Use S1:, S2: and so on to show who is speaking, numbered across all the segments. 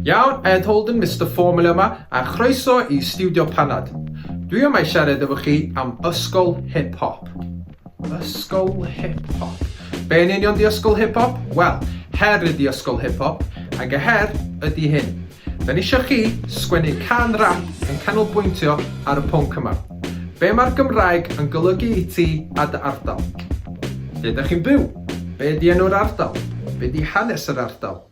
S1: Iawn, Ed Holden, Mister Formula yma, a chroeso i Stiwdio Panad. Dwi yma i siarad efo chi am ysgol hip hop. Ysgol hip hop. Be yn union di ysgol hip hop? Wel, her ydi ysgol hip hop, ac y her ydi hyn. Da ni isio chi sgwennu can rap yn canolbwyntio ar y pwnc yma. Be mae'r Gymraeg yn golygu i ti a dy ardal? Lle da chi'n byw? Be di enw'r ardal? Be di hanes yr ardal?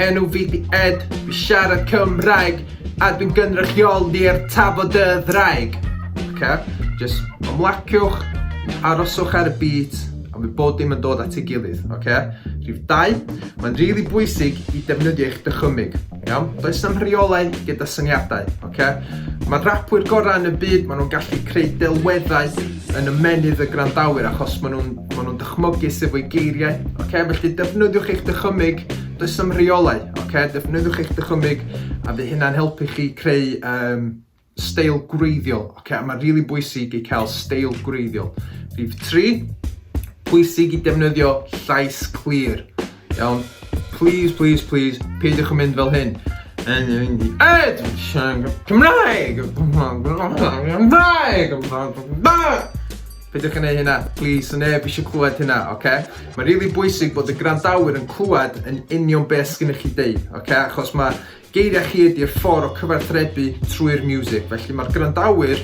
S1: Enw fi di Ed, fi siarad Cymraeg A dwi'n gynrychioli i'r tafod y ddraig Oce, jyst ymlaciwch, aroswch ar y beat A mi bod dim yn dod at ei gilydd, oce? Rhif dau, mae'n rili bwysig i defnyddio eich dychymyg Iawn? Does na'm rheolau gyda syniadau, oce? Mae rapwyr gorau yn y byd, maen nhw'n gallu creu delweddau yn ymennydd y gwrandawyr achos maen nhw'n ma nhw dychmygu sef o'i geiriau. Okay? Felly defnyddiwch eich dychymyg, does am rheolau. Okay? Defnyddiwch eich dychymyg a fydd hynna'n helpu chi creu um, steil gwreiddiol. Okay? A mae'n rili really bwysig i cael steil gwreiddiol. Rhif 3, bwysig i defnyddio llais clir. Iawn? Please, please, please, peidiwch yn mynd fel hyn. Yn mynd i Ed! Cymraeg! Cymraeg! Cymraeg! Peidiwch yn ei hynna, please, so neb eisiau clywed hynna, oce? Okay? Mae'n rili really bwysig bod y grandawyr yn clywed yn union beth sgynnych chi deud, oce? Okay? Achos mae Geiriau chi ydi'r ffordd o cyfathrebu trwy'r miwsig, felly mae'r gwrandawyr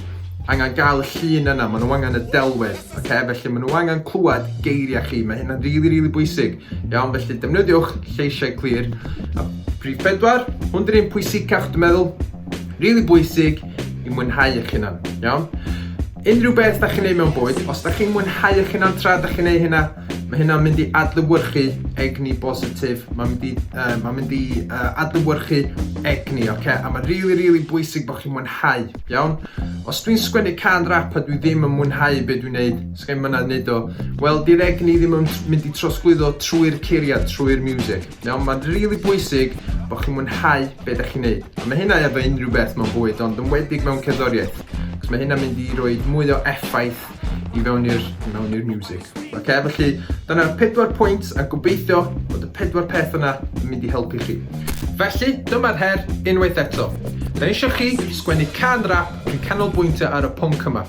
S1: angen gael y llun yna, maen nhw angen y delwedd, okay? felly maen nhw angen clywed geiriau chi, mae hynna'n rili, really, rili really bwysig. Iawn, felly defnyddiwch lleisiau clir. A prif pedwar, hwn dy'r un pwysicach, dwi'n meddwl, rili really bwysig i mwynhau eich hunan, iawn? Unrhyw beth da chi'n neud mewn bwyd, os da chi'n mwynhau eich hunan tra da chi'n neud hynna, Mae hynna'n mynd i adlewyrchu egni bositif, mae'n mynd i, uh, mae mynd i uh, adlewyrchu egni, oce? Okay? A mae'n rili, really, rili really bwysig bod chi'n mwynhau, iawn? Os dwi'n sgwennu can rap a dwi ddim yn mwynhau be dwi'n neud, sgen myna neud o, wel, di'r egni ddim yn mynd i trosglwyddo trwy'r ceiriad, trwy'r music, iawn? Mae'n rili really bwysig bod chi'n mwynhau be da chi'n neud. A mae hynna efo unrhyw beth mewn bwyd, ond yn wedig mewn cerddoriaeth. Cos mae hynna'n mynd i roi mwy o effaith i fewn i'r i mewn i'r music. Oce, okay, felly dyna'r pedwar pwynt a gobeithio bod y pedwar peth yna yn mynd i helpu chi. Felly, dyma'r her unwaith eto. Da eisiau chi sgwennu can rap yn canolbwyntio ar y pwnc yma.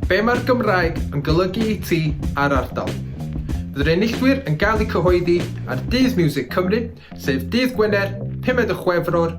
S1: Be mae'r Gymraeg yn golygu i ti a'r ardal? Bydd'r enillwyr yn gael eu cyhoeddi ar Dydd Music Cymru, sef dydd Gwener, 5 o Chwefror